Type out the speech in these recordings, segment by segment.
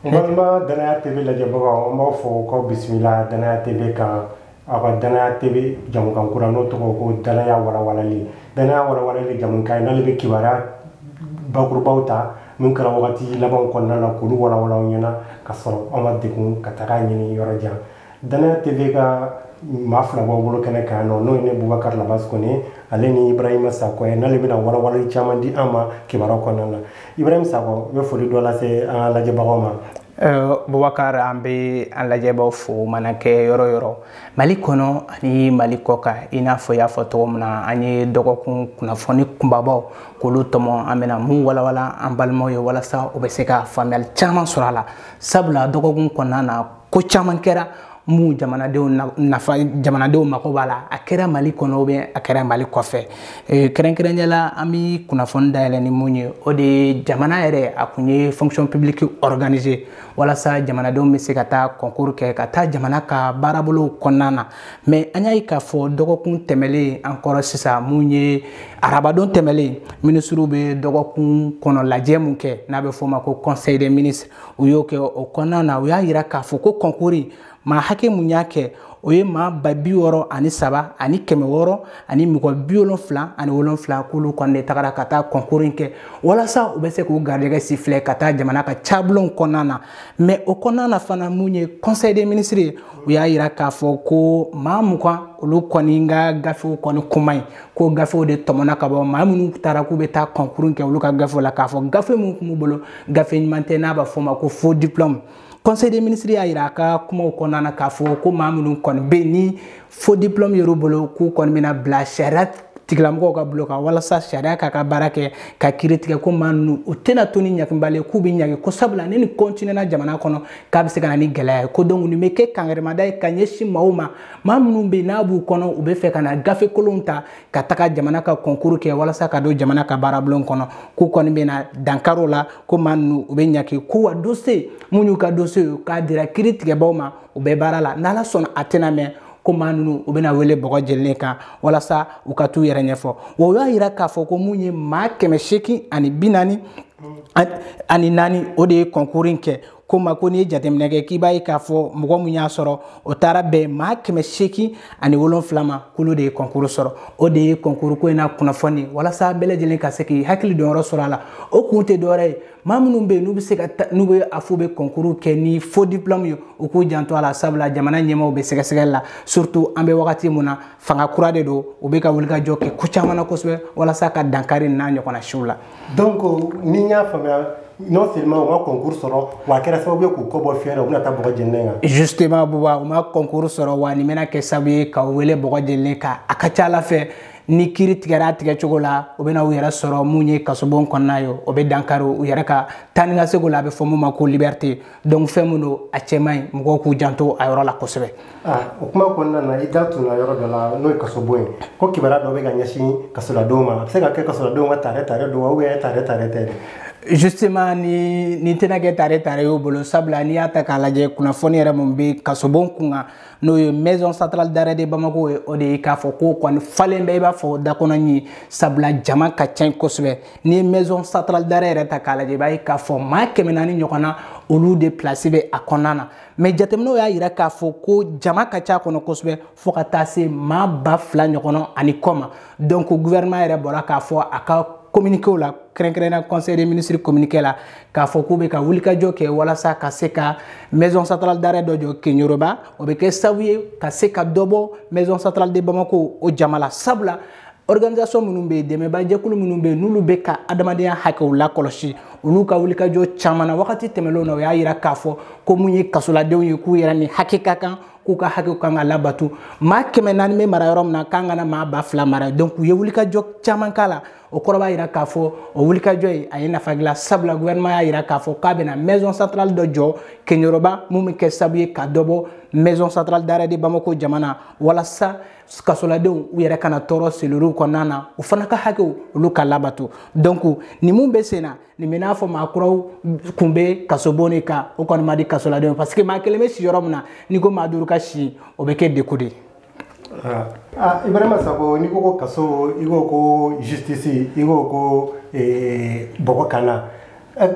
n balima danaya tv lajɛbagaw an b'aw fo k'aw bisimila danaya tv kan aw ka danaya tv jamukan kura n'o tɔgɔ ko danaya walawalali danaya walawalali jamukan n'ale bɛ kibaruya bakurubaw ta min kɛra wagati labanw kɔnɔna na k'olu walawala aw ɲɛna ka sɔrɔ an ma degun ka taga ɲini yɔrɔ jan danaya tv ka maa fila b'aw bolo kɛnɛ kan nɔ n'o ye ne bubakari labasi kɔnɛ ale ni ibrahima sakɔ ye n'ale bɛna walawalali caman di an ma kibaruyaw kɔnɔna na ibrahima sakɔ i bɛ foli dɔ lase an ka lajɛbagaw ma bubakar an bɛ an lajɛbaw fo mana kɛ yɔrɔ o yɔrɔ mali kɔnɔ ani mali kɔ kan i n'a fɔ y'a fɔ cogo min na an ye dɔgɔkun kunnafoni kunbabaw k'olu tɔmɔ an bɛna mun walawala an balimaw ye walasa u bɛ se ka faamuyali caman sɔrɔ a la sabula dɔgɔkun kɔnɔna na ko caman kɛra mun jamanadenw nafa jamanadenw mago b'a la a kɛra mali kɔnɔ ou bien a kɛra mali kɔfɛ e, kɛrɛnkɛrɛnya la an bɛ kunnafoni dayɛlɛ ni mun ye o de ye jamana yɛrɛ a kun ye fonction publique organiser walasa jamanadenw bɛ se ka taa concours kɛ ka taa jamana ka baarabolow kɔnɔna na mais an y'a ye k'a fɔ dɔgɔkun tɛmɛlen an kɔrɔ sisan mun ye arabadon tɛmɛlen minisiriw bɛ dɔgɔkun kɔnɔ lajɛ mun kɛ n'a bɛ f'o ma ko conseil des ministres u y'o kɛ o kɔnɔna na u y'a yira k'a fɔ ko concours maa hakɛ mun y'a kɛ o ye maa ba bi wɔɔrɔ ani saba ani kɛmɛ wɔɔrɔ ani mɔgɔ bi wolonfila ani wolonfila k'olu kɔni de tagara ka taa concours kɛ walasa u bɛ se k'u garijɛgɛ sifilɛ ka taa jamana ka cabulonw kɔnɔna na mais o kɔnɔna na fana mun ye conseil des ministres ye u y'a yira k'a fɔ ko maa mugan olu kɔni ka gafew kɔni k'u man ɲi ko gafew de tɔmɔna ka bɔ maa minnu taara k'u bɛ taa concours kɛ olu ka gafew la k'a fɔ gafe minnu tun b'u bolo gafe ɲuman tɛ n'a b'a fɔ o ma ko faux diplôme conseil des ministres y'a yira a ka kumaw kɔnɔna na k'a fɔ ko maa minnu kɔni bɛ yen ni faux diplôme yer'u bolo k'u kɔni bɛna bila sariya tigilamɔgɔw ka bolo kan walasa sariya k'a ka baara kɛ ka kiri tigɛ ko maa ninnu u tɛna to ni ɲangibali k'u bɛ ɲangi ko sabula ni nin kɔntinɛna jamana kɔnɔ k'a bɛ se ka na ni gɛlɛya ye ko donc nin bɛ kɛ kankarimada ye ka ɲɛsin maaw ma maa minnu bɛ yen n'a b'u kɔnɔ u bɛ fɛ ka na gafe kolonw ta ka taga jamana ka concours kɛ walasa ka don jamana ka baarabulon kɔnɔ k'u kɔni bɛna dankari o la ko maa ninnu u bɛ ɲangi ko wa dossier minnu y'u ka dossier ye k'a dira kiri tigɛbaaw ma u bɛ baara la n'ala sɔnna a tɛna mɛɛn ko maa ninnu u bɛna wele bɔgɔ jeninen kan walasa u ka t'u yɛrɛ ɲɛfɔ wa u y'a yira k'a fɔ ko mun ye maa kɛmɛ seegin ani bi naani ani naani o de ye concours in kɛ ko ma ko n'i ye jateminɛ kɛ k'i b'a ye k'a fɔ mɔgɔ min y'a sɔrɔ o taara bɛn maa kɛmɛ seegin ani wolonfila ma k'olu de ye concours sɔrɔ o de ye concours ko in na kunnafoni ye walasa bɛɛ lajɛlen ka se k'i hakili dɔnyɔrɔ sɔrɔ a la o kun tɛ dɔwɛrɛ ye maa minnu bɛ yen n'u bɛ se ka n'u bɛ a fɔ u bɛ concours kɛ ni faux diplôme ye u k'u janto a la sabula jamana ɲɛmaaw bɛ sɛgɛsɛgɛli la surtout an bɛ wagati min na fanga kura de don u bɛ ka wulikajɔ kɛ ko caman na kosɛbɛ walasa ka dankari n'a ɲɔgɔnna siw la donc ni n y'a faamuya non seulement u ma concours sɔrɔ wa a kɛra sababu ye k'u kɔ bɔ fiɲɛ na u bɛna taa bɔgɔ jenilen kan justement buba u ma concours sɔrɔ wa nin bɛna kɛ sababu ye k'u wele bɔgɔ jenilen kan a ka ca a la fɛ ni kiri tigɛra a tigɛ cogo la u bɛna u yɛrɛ sɔrɔ mun ye kasobon kɔnɔna ye o bɛ dankari u yɛrɛ ka taa ni ka segin la a bɛ fɔ mun ma ko liberté donc fɛn min don a cɛ man ɲi mɔgɔw k'u janto a yɔrɔ la kosɛbɛ o kuma kɔnɔna na i da tunna yɔrɔ dɔ la n'o ye kasobon ye ko kibaruya dɔ bɛ ka ɲɛsin kasoladenw ma a bɛ se ka kɛ kasoladenw ka tare tare don wa ou bien tare tare tɛ justement nin tɛna kɛ tare tare y'u bolo sabula n'i y'a ta k'a lajɛ kunnafoni yɛrɛ mun bɛ kasobon kun kan n'o ye maison centrale d'arrêt de bamako ye o de ye k'a fɔ k'o kɔni falen bɛ i b'a fɔ dakɔnɔɲin sabula jama ka ca kosɛbɛ n'i ye maison centrale d'arrêt yɛrɛ ta k'a lajɛ i b'a ye k'a fɔ maa kɛmɛ naani ɲɔgɔnna olu de place bɛ a kɔnɔna na mais jateminɛw y'a yira k'a fɔ ko jama ka ca kɔnɔ kosɛbɛ fo ka taa se maa ba fila ɲɔgɔn ani kɔ ma donc gouvernement yɛrɛ bɔra k'a fɔ a ka communiqué la kɛrɛnkɛrɛnnenya conseil des ministres communiqué la k'a fɔ k'u bɛ ka wulikajɔ kɛ walasa ka se ka maison centrale d'arrêt dɔ jɔ keɲoroba o bɛ kɛ sababu ye ka se ka dɔ bɔ maison centrale de bamako o jama la sabula organisation minnu bɛ yen dɛmɛbaa jɛkulu minnu bɛ yen n'olu bɛ ka adamadenya hakɛw lakɔlɔsi olu ka wulikajɔ caman na wagati tɛmɛnlenw na u y'a yira k'a fɔ ko mun ye kasoladenw ye k'u yɛrɛ ni hakɛ ka kan k'u ka hakɛw kan ka labato maa kɛmɛ naani bɛ mara yɔrɔ min na k'an kana maa ba fila mara donc u ye wulikajɔ caman k'a la o kɔrɔ b'a yira k'a fɔ o wulikajɔ ye a ye nafa dilan sabula gouvernement y'a yira k'a fɔ k'a bɛna maison centrale dɔ jɔ keɲoroba mun bɛ kɛ sababu ye ka dɔ bɔ maison centrale d'arrêt de bamako jama na walasa kasoladenw u yɛrɛ kana tɔɔrɔ cellulew kɔnɔna na u fana ka hakɛw olu ka labato donc nin min bɛ sen na nin bɛ n'a fɔ maa kuraw kun bɛ kasobon de kan o kɔni ma di kasoladenw parce que maa kelen bɛ si yɔrɔ min na n'i ko maa duuru ka si o bɛ kɛ degun de ye. Ah, ah, ibrahima sako n'i ko ko kaso i ko ko justice i ko ko eh, bɔgɔ kan na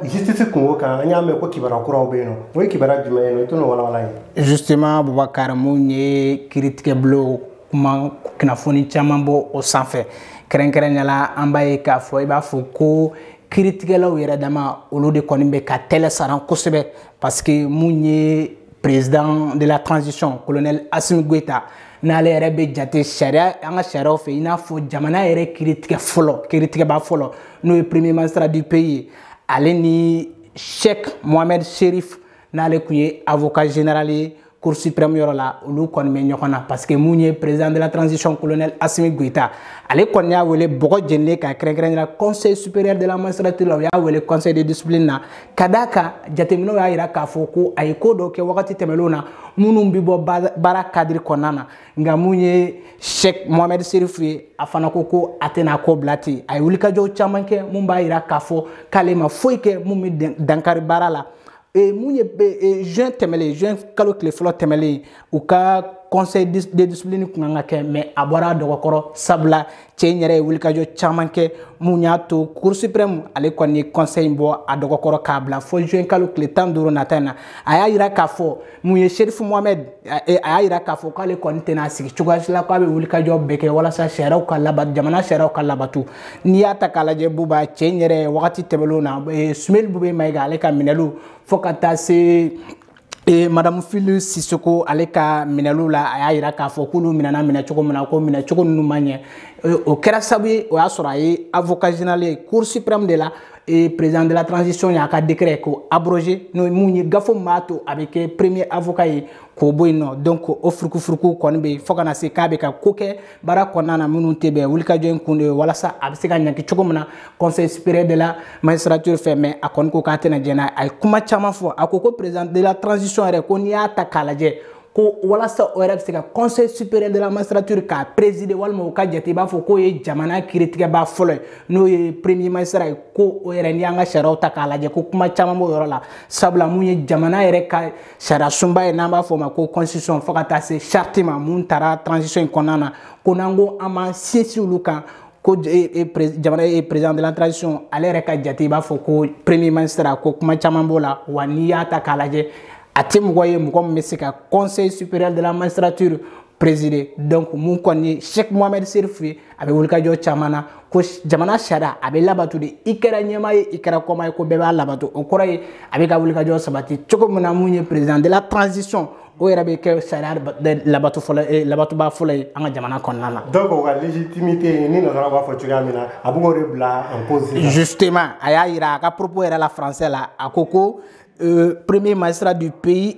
justice kunko kan an y'a mɛn ko kibaruya kuraw bɛ yen nɔ o ye kibaruya jumɛn ye nɔ i t'o walawala an ye justement bubakari mun ye kiritigɛbulon kuma kunnafoni caman bɔ o sanfɛ kɛrɛnkɛrɛnnenya la an b'a ye k'a fɔ i b'a fɔ ko kiritigɛlaw yɛrɛ dama olu de kɔni bɛ ka tɛlɛ saran kosɛbɛ parce que mun ye président de la transition colonel asimi goyita n'ale yɛrɛ bɛ jate sariya an ka sariyaw fɛ i n'a fɔ jamana yɛrɛ kiritigɛ fɔlɔ kiritigɛba fɔlɔ n'o ye premier magistrat du pays ye ale ni cheick mohamed chérif n'ale kun ye avocat général ye cour suprême yɔrɔ la olu kɔni bɛ ɲɔgɔn na parce que mun ye président de la transition colonel asimi goyita ale kɔni y'a wele bɔgɔ jenilen kan kɛrɛnkɛrɛnnenya la conseil supérieur de la magistrature la u y'a wele conseil de discipline na ka d'a kan jateminɛw y'a yira k'a fɔ ko a ye ko dɔw kɛ wagati tɛmɛnlenw na minnu bɛ bɔ baara cadre kɔnɔna na nka mun ye cheikh mohamed chérif ye a fana ko a tɛna ko bila ten a ye wulikajɔw caman kɛ mun b'a yira k'a fɔ k'ale ma foyi kɛ mun bɛ dankari baara la e, mun ye e, juin tɛmɛlen juin kalo tile fɔlɔ tɛmɛlen u ka conseil de discipline kun kan ka kɛ mais a bɔra a dɔgɔkɔrɔ sabula cɛ in yɛrɛ ye wulikajɔ caman kɛ mun y'a to cour suprême ale kɔni ye conseil in bɔ a dɔgɔkɔrɔ k'a bila fo juin kalo tile tan duuru nata in na a y'a yira k'a fɔ mun ye chérif mohamed a y'a yira k'a fɔ k'ale kɔni tɛna sigi cogoya si la k'a bɛ wulikajɔ bɛɛ kɛ walasa sariyaw ka labato jamana sariyaw ka labato n'i y'a ta k'a lajɛ buba cɛ in yɛrɛ wagati tɛmɛnlenw na soumeylou boubèye maïga ale ka minɛliw fo ka taa se E madame fily sissoko ale ka minɛliw la a y'a yira k'a fɔ k'olu minɛna minɛ cogo min na ko minɛ cogo ninnu ma ɲɛ e, o kɛra sababu ye o y'a sɔrɔ a ye avocat général ye cour suprême de la e, président de la transition y'a ka décret ko abroger n'o mun ye gafe min b'a to a bɛ kɛ premier avocat ye k'o bɔ yen nɔ donc o furukufuruku kɔni bɛ yen fo ka na se k'a bɛ ka ko kɛ baara kɔnɔna na minnu tɛ bɛn wulikajɔ in kun de ye walasa a bɛ se ka ɲangi cogo min na conseil supérieur de la magistrature fɛ mais a kɔni ko k'a tɛna jɛn n'a ye a ye kuma caman fɔ a ko ko président de la transition yɛrɛ ko n'i y'a ta k'a lajɛ ko walasa o yɛrɛ bɛ se ka conseil supérieur de la magistrature k'a présider walima o ka jate i b'a fɔ k'o ye jamana kiritigɛba fɔlɔ ye n'o ye premier magistrat ye ko o yɛrɛ n'i y'an ka sariyaw ta k'a lajɛ ko kuma caman b'o yɔrɔ la sabula mun ye jamana yɛrɛ ka sariyasunba ye n'an b'a fɔ o ma ko constitution fo ka taa se charte ma mun taara transition in kɔnɔna na ko n'an ko an b'an sinsin olu kan ko e, e, jamana ye président de la transition ale yɛrɛ ka jate i b'a fɔ ko premier magistrat ko kuma caman b'o la wa n'i y'a ta k'a lajɛ a tɛ mɔgɔ ye mɔgɔ min bɛ se ka conseil supérieur de la magistrature présider donc mun kɔni ye cheikh mohamed chérif ye a bɛ wulikajɔ caman na ko jamana sariya a bɛ labato de i kɛra ɲɛmaa ye i kɛra kɔmaa ye ko bɛɛ b'a labato o kɔrɔ ye a bɛ ka wulikajɔ sabati cogo min na mun ye président de la transition o yɛrɛ bɛ kɛ sariya labato fɔlɔ eh, labatoba fɔlɔ ye an ka jamana kɔnɔna na. donc o ka légitimité ni nasara b'a fɔ cogoya min na a b'o de bila en cause. justement a y'a yira a ka propos yɛrɛ la français la a ko ko euh, premier magistrat du pays.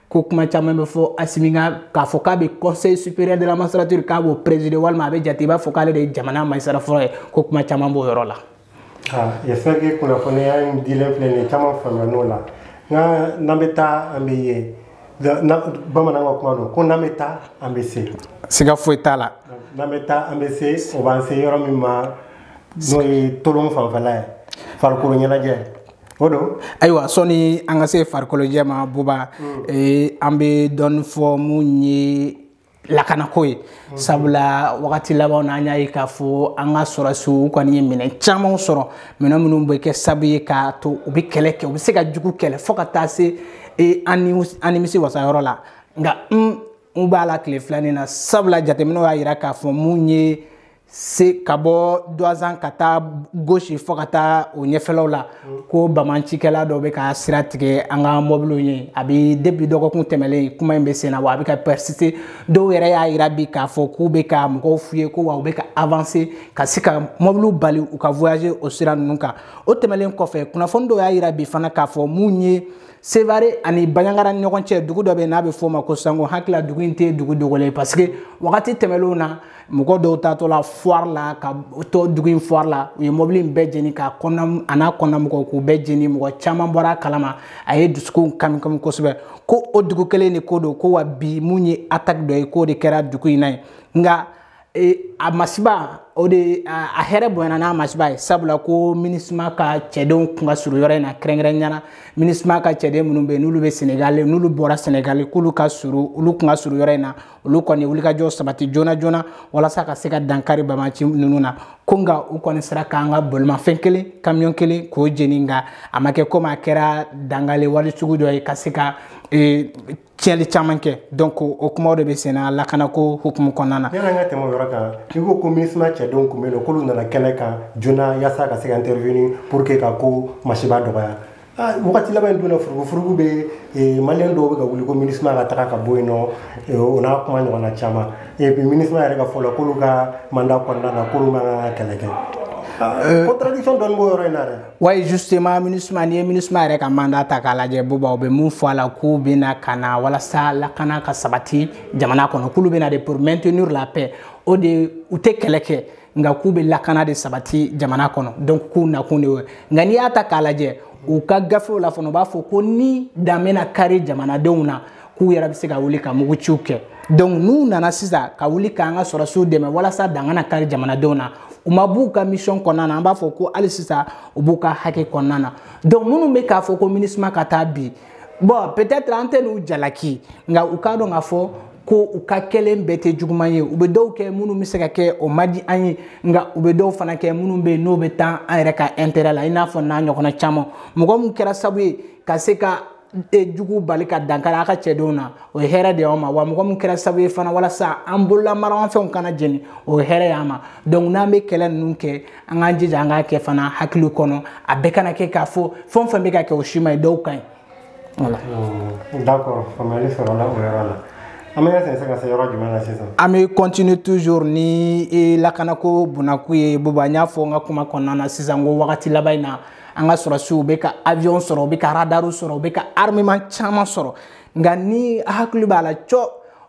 ko kuma caman bɛ fɔ assimi kan k'a fɔ k'a bɛ conseil supérieur de la magistrature k'a b'o présider walima a bɛ jate i b'a fɔ k'ale de ye jamana magistrat fɔlɔ ye ko kuma caman b'o yɔrɔ la. j'espère que kunnafoniya in dilen filɛ nin ye caman faamuya n'o la nka n'an bɛ taa an bɛ ye bamanan ka kuma don ko n'an bɛ taa an bɛ se. siga foyi t'a la. n'an bɛ taa an bɛ se o b'an se yɔrɔ min ma n'o ye tolon fanfɛla ye farikolo ɲɛnajɛ. o don ayiwa sɔni an ka se farikolojɛ ma buba mm. eh, an bɛ dɔɔni fɔ mun ye lakanako ye mm. sabula wagati labanw na an y'a ye k'a fɔ an ka sɔrɔsiw u kɔni ye minɛn caman sɔrɔ minɛn minnu bɛ kɛ sabu ye k'a to u bɛ kɛlɛ kɛ u bɛ se ka jugu kɛlɛ fo ka taa se eh, an nimisi wasa yɔrɔ la nka n b'a la tile fila nin na sabula jateminɛw y'a yira k'a fɔ mun ye se ka bɔ duwanza ka taa gosi fo ka taa o ɲɛfɛlaw la ko bamancikɛla dɔ bɛ ka sira tigɛ an ka mɔbiliw ye a bɛ depi dɔgɔkun tɛmɛlen kuma in bɛ sen na wa a bɛ ka persister dɔw yɛrɛ y'a yira bi k'a fɔ k'u bɛ ka mɔgɔw f'u ye ko wa u bɛ ka avanse ka se ka mɔbiliw bali u ka voyager o sira ninnu kan o tɛmɛlen kɔfɛ kunnafoni dɔw y'a yira bi fana k'a fɔ mun ye sevare ani banjagara ni ɲɔgɔn cɛ dugu dɔ bɛ n'a bɛ f'o ma ko sango hakili la dugu in tɛ dugu dogolen parce que wagati tɛmɛnlenw na mɔgɔ dɔw taatɔla foire la ka taa dugu in foire la u ye mɔbili in bɛɛ jeni k'a kɔnɔna a n'a kɔnɔna mɔgɔw k'u bɛɛ jeni mɔgɔ caman bɔra a kalama a ye dusukun kami kami kosɛbɛ ko o dugu kelen de ko don ko wa bi mun ye attaque dɔ ye k'o de kɛra dugu in na yen nka e, a masiba o de a hɛrɛ bonyana n'a masiba ye sabula ko minisma ka cɛdenw kun ka surun yɔrɔ in na kɛrɛnkɛrɛnnenya na minisma ka cɛden minnu bɛ yen n'olu bɛ senegali n'olu bɔra senegali k'olu ka surun olu kun ka surun yɔrɔ in na olu kɔni wulikajɔ sabati joona joona walasa ka se ka dankari bamaci ninnu na ko nka u kɔni sera k'an ka bolimafɛn kelen kamiyɔn kelen k'o jeni nka a ma kɛ komi a kɛra dankari wali sugu dɔ ye ka se ka e, tiɲɛli caman kɛ donc o kumaw de bɛ sen na lakanako hukumu kɔnɔna na yani an ka tɛmɛ o yɔrɔ kan i ko ko minisma cɛdenw kun bɛ yen nɔ k'olu nana kɛnɛ kan joona yaasa ka se ka intervenir pour que ka ko masiba dɔgɔya Ah, wagati laban in donna furugufurugu bɛ eh, maliyɛn dɔw bɛ ka wuli ko minisma ka taga ka bɔ yen nɔ eh, o n'a kuma ɲɔgɔnna caman eh, minisma yɛrɛ ka fɔ la k'olu ka manda kɔnɔna na k'olu man kan ka kɛlɛ kɛ ah, contradiction dɔɔni b'o yɔrɔ in na dɛ oui justement minisma n'i ye minisma yɛrɛ ka manda ta k'a lajɛ buba u bɛ mun fɔ a la k'u bɛna ka na walasa lakana ka sabati jamana kɔnɔ k'olu bɛna de pour maintenir la paix o de u tɛ kɛlɛ kɛ nka k'u bɛ lakana de sabati jamana kɔnɔ donc k'u nakun de y'o ye nka n'i y'a ta k'a lajɛ u ka gafew la fana u b'a fɔ ko ni dan bɛna kari jamanadenw na k'u yɛrɛ bɛ se ka wuli ka muguciw kɛ donc n'u nana sisan ka wuli k'an ka sɔrɔsiw dɛmɛ walasa dan kana kari jamanadenw na u ma b'u ka mission kɔnɔna na an b'a fɔ ko hali sisan u b'u ka hakɛ kɔnɔna na donc minnu bɛ k'a fɔ ko minisma ka taa bi bon peut-être an tɛ n'u jalaki nka u k'a dɔn k'a fɔ ko u ka kɛlen bɛɛ tɛ juguman ye u bɛ dɔw kɛ minnu bɛ se ka kɛ o man di an ye nka u bɛ dɔw fana kɛ minnu bɛ yen n'o bɛ taa an yɛrɛ ka intérêt la i n'a fɔ n'a ɲɔgɔnna caman mɔgɔ min kɛra sabu ye ka se ka e jugu bali ka dankari an ka cɛdenw na o ye hɛrɛ de y'an ma wa mɔgɔ min kɛra sabu ye fana walasa an bolola maramafɛnw kana jeni o ye hɛrɛ y'an ma donc n'an bɛ kɛlɛ ninnu kɛ an k'an jija an k'a kɛ fana hakili kɔnɔ a bɛɛ kana kɛ k'a fɔ fɛn o fɛn bɛ ka kɛ o si man ɲi dɔw ka ɲi voilà hmm, d'accord faamuyali sɔrɔla o yɔrɔ la an bɛ sɛnsɛn ka se yɔrɔ jumɛn na sisan an bɛ continuer toujours ni e, lakanako bunakun ye boba n y'a fɔ n ka kuma kɔnɔna na sisan ko wagati laban in na an ka sɔrɔsiw u bɛ ka avion sɔrɔ u bɛ ka radaru sɔrɔ u bɛ ka armement caman sɔrɔ nka n'i hakili b'a la cɔ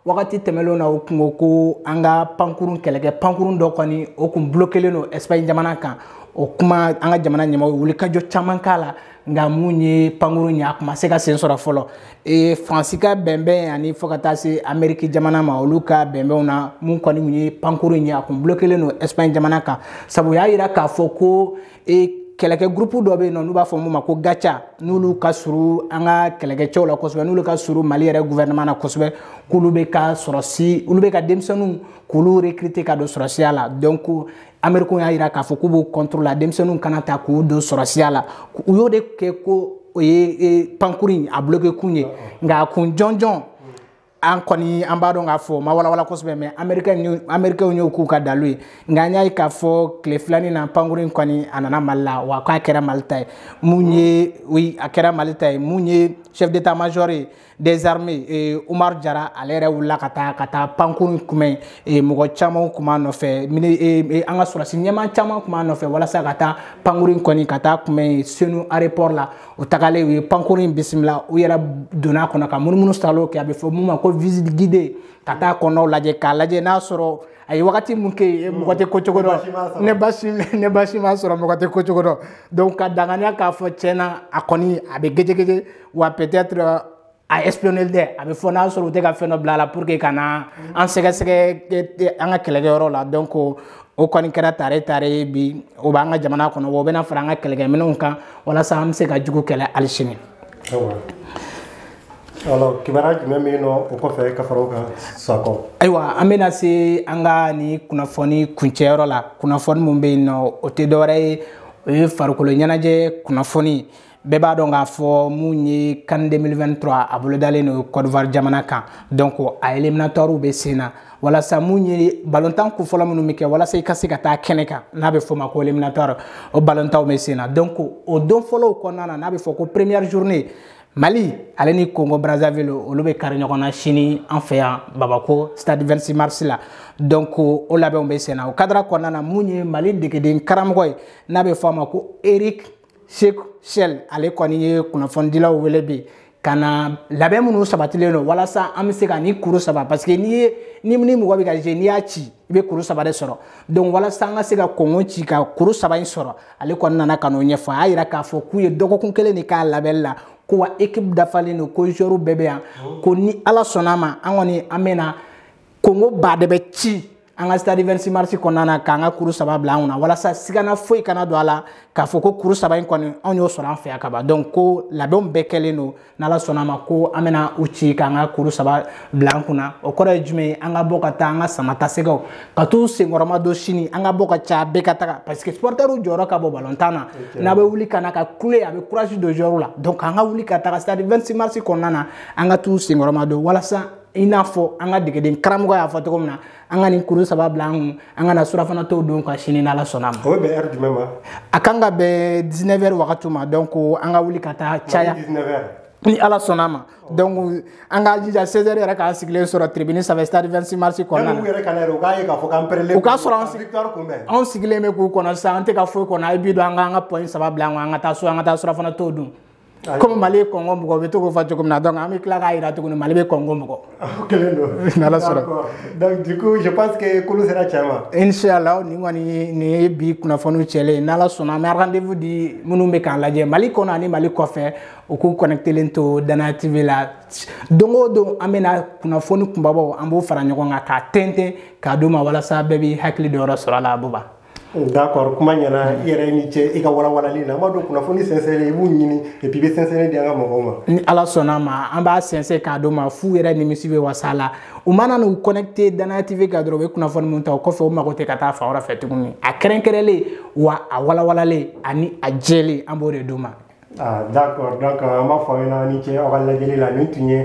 wagati tɛmɛnlenw na u kun ko ko an ka pankurun kɛlɛkɛ pankurun dɔ kɔni o kun bulokelen don espagne jamana kan o kuma an ka jamana ɲɛmaaw ye wulikajɔ caman k'a la nka mun ye pankurun ye a kun ma se ka sen sɔrɔ fɔlɔ ee faransi ka bɛnbɛn ani fo ka taa se ameriki jamana ma olu ka bɛnbɛnw na mun kɔni ye pankurun ye a kun bulokelen don espagne jamana kan sabu u y'a yira k'a fɔ ko e kɛlɛkɛ gurupu dɔ bɛ yen nɔ n'u b'a fɔ mun ma ko gatia n'olu ka surun an ka kɛlɛkɛcɛw la kosɛbɛ n'olu ka surun mali yɛrɛ gouvernement na kosɛbɛ k'olu bɛ ka sɔrɔsi olu bɛ ka denmisɛnninw k'olu recruter ka don sɔrɔsiya la donc amerikɛnw y'a yira k'a fɔ k'u b'o contre la denmisɛnninw kana ta k'u don sɔrɔsiya la u y'o de kɛ ko o ye pankuru in a bloquer kun ye nka a kun jɔnjɔn an kɔni an b'a dɔn k'a fɔ ma walawala kosɛbɛ mais amerikɛnw y'o k'u ka dalu ye nka an y'a ye k'a fɔ tile fila in na pankuru in kɔni a nana mali la wa k'a kɛra mali ta ye mun ye oui a kɛra mali ta ye mun ye chef d'état major ye des armées eh, Omar Jara ale yɛrɛ wulila ka taa ka taa pankuru kunbɛn eh, mɔgɔ caman kun b'a nɔfɛ eh, eh, an ka sɔrɔsi ɲɛmaa caman kun b'a nɔfɛ walasa ka taa pankuru in kɔni ka taa kunbɛn senu aéroport la u tagalen u ye pankuru in bisimila u yɛrɛ donna a kɔnɔ ka munumunu salo kɛ a bɛ fɔ mun ma ko visite guidée ka taa kɔnɔ lajɛ k'a lajɛ n'a sɔrɔ a ye wagati mun kɛ yen mɔgɔ tɛ ko cogo dɔn ni basi ni basi m'a sɔrɔ mɔgɔ tɛ ko cogo dɔn donc ka danganiya k'a fɔ tiɲɛna a kɔni a bɛ gɛjɛgɛjɛ wa peut-être a espionner dɛ a bɛ fɔ n'a sɔrɔ u tɛ ka fɛn dɔ bila a la pour que ka na an sɛgɛsɛgɛ an ka kɛlɛkɛyɔrɔ la donc o kɔni kɛra tare tare ye bi o b'an ka jamana kɔnɔ o bɛna fara an ka kɛlɛkɛminɛnw kan walasa an bɛ se ka jugu kɛlɛ hali sini. alors kibaruya jumɛn bɛ yen nɔ o kɔfɛ ka fara o kan sakɔ. ayiwa an bɛna se an ka nin kunnafoni kuncɛyɔrɔ la kunnafoni min bɛ yen nɔ o tɛ dɔwɛrɛ ye o ye farikolo ɲɛnajɛ kunnafoni. bɛɛ b'a dɔn k'a fɔ mun ye CAN 2023 a bolodalen don kɔdiwari jamana kan donc a eliminatɔriw bɛ sen na walasa mun ye balontan kunfɔlɔ minnu bɛ kɛ walasa i ka se ka taa kɛnɛ kan n'a bɛ f'o ma ko eliminatɔri o balontanw bɛ sen na donc o don fɔlɔw kɔnɔna na n'a bɛ fɔ ko première journée mali ale ni congo brazzaville olu bɛ kari ɲɔgɔn na sini an fɛ yan bamako stade 26 mars la donc o labɛnw bɛ sen na o kadara kɔnɔna na mun ye mali degelikaramɔgɔ ye n'a bɛ fɔ a ma ko eric Sékou Chelle ale kɔni ye kunnafonidilaw wele bi ka na labɛn minnu sabatilen don walasa an bɛ se ka nin kuru saba parce que n'i ye ni ni mɔgɔ bɛ ka jouer n'i y'a ci i bɛ kuru saba de sɔrɔ donc walasa an ka se ka kongo ci ka kuru saba in sɔrɔ ale kɔni nana ka n'o ɲɛfɔ a y'a yira k'a fɔ k'u ye dɔgɔkun kelen de k'a labɛnni la ko wa ekipu dafalen don ko joueurs bɛɛ bɛ yan ko ni ala sɔnna a ma an kɔni an bɛna kongo ba de bɛ ci an ka stade 26 mars kɔnɔna na k'an ka kuru saba bila an kunna walasa sigana foyi kana don a la k'a fɔ ko kuru saba in kɔni anw y'o sɔrɔ an fɛ yan kaban donc ko labɛnw bɛɛ kɛlen don n'ala sɔnna a ma ko an bɛna u ci k'an ka kuru saba bila an kunna o kɔrɔ ye jumɛn ye an ka bɔ ka taa an ka samatasɛgɛw ka t'u senkɔrɔma don sini an ka bɔ ka ca bɛɛ ka taga parce que supportɛriw jɔyɔrɔ ka bon balontan na n'a bɛ wuli ka na ka kule a bɛ courage don joueurs la donc an ka wuli ka taga stade 26 mars kɔnɔna na an ka t'u senkɔrɔma don walasa i n'a fɔ an ka degeden karamɔgɔ y'a fɔ cogo min na an ka nin kuru saba bila an kun an ka na surafana to dun ka sini n'ala sɔnna a ma. o bɛ bɛn heure jumɛn ma. a kan ka bɛn 19 heures wagati ma donc an ka wuli ka taa caya. 19 heures. ni ala sɔnna a ma donc an k'a jija 16 heures yɛrɛ k'an sigilen sɔrɔ tribune sanfɛ stade 26 mars kɔnɔna na u yɛrɛ ka na yɛrɛ u k'a ye k'a fɔ k'an pɛrɛlen u k'a sɔrɔ an victoire kunbɛn anw sigilen bɛ k'u kɔnɔ sisan an tɛ ka foyi kɔnɔ a ye bi don an k'an ka point saba bila an kun an ka taa so an ka taa surafana to dun komi mali ye kongo bugɔ u bɛ to k'o fɔ cogo min na donc an bɛ tila k'a jira tuguni mali bɛ kongo bugɔ kelen don n'ala sɔnna donc du coup je pense que kolo sera cɛ ma inchallah nin kɔni nin ye bi kunnafoniw cɛlen ye n'ala sɔnna a ma an bɛ rendez-vous di minnu bɛ k'an lajɛ mali kɔnɔ ani mali kɔfɛ u k'u connectelen to danaya tv la don o don an bɛna kunnafoni kunbabaw an b'o fara ɲɔgɔn kan k'a tɛntɛn k'a d'u ma walasa bɛɛ b'i hakili dɔyɔrɔ sɔrɔ a la abuba d'accord kuma ɲɛna i yɛrɛ ni ce i ka walawalali la an b'a dɔn kunnafoni sɛnsɛnlen i b'u ɲini et puis i bɛ sɛnsɛnlen di an ka mɔgɔw ma ni ala sɔnna a ma an b'a sɛnsɛn k'a d'u ma f'u yɛrɛ nimisi bɛ wasa a la u mana n'u connecté danaya tv kan dɔrɔn u bɛ kunnafoni min ta o kɔfɛ u mago tɛ ka taa fan wɛrɛ fɛ tuguni a kɛrɛnkɛrɛnlen wa a walawalalen ani a jɛlen an b'o de d'u ma ah d'accord donc an b'a fɔ aw ɲɛna ni ce aw ka lajɛli la nin tun ye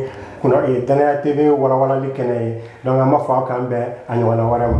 eh, danaya tv walawalali kɛnɛ ye donc an b'a fɔ aw k'an bɛn a ɲɔgɔnna wɛrɛ ma